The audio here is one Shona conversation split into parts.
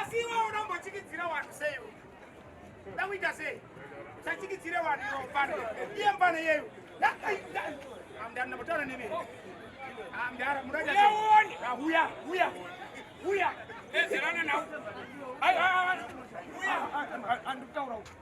asi iwe unombochikidzira wanhu sei ndakuita sei usachikidzire wanhu iwofane iye mfane yeyu ndambotaura nemi mdara mudaaone huya huya huya ezerana nau andikutaura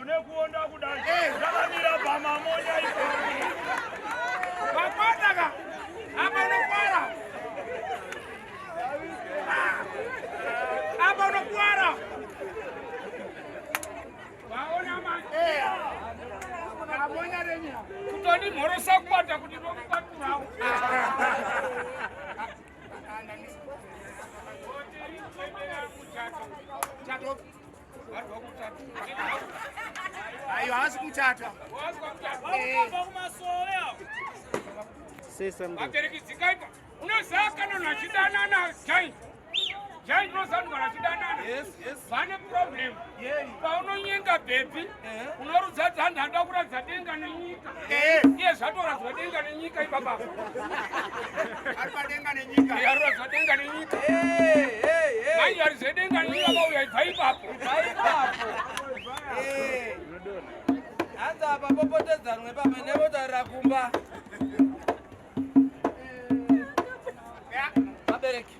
Unekuonda kudai. Eh. Ndakamira pamamonya ipo. Pakwana ka. Apa unokwara. Apa unokwara. Waona manje. Eh. Mamonya renya. Kutoni mhorosa kwata kuti ndokubaturawo. Chato. Chato. Ayo haasi kuchata. Vabereki dzikaita unoziva kana nachidanana giant giant unoziva kana nachidanana vane problem paunonyenga bhebhi unorudzadza hanzi anoda kuratidza denga nenyika iye zvatoradzwa denga nenyika ibaba aruratidza denga nenyika manje ari zvedenga nenyika vauya ibva ipapo hanzi apa popotedzanwe pamwe nevotarira kumba vabereki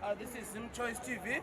ah, this is zim choice tv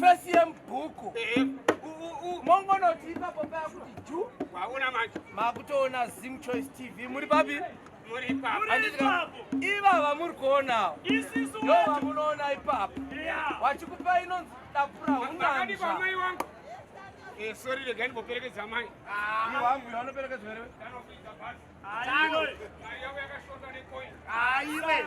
Face yemubhuku mongonoti ipapo paya kuti ju waona manje makutoona zim choice tv muri papi ivava muri kuonawo ndo vamunoona ipapo wachikupa inonzi dakura hunanzva eh, sori regai ndimboperekedza mai ah, wangu yanoperekedzwa here aiwe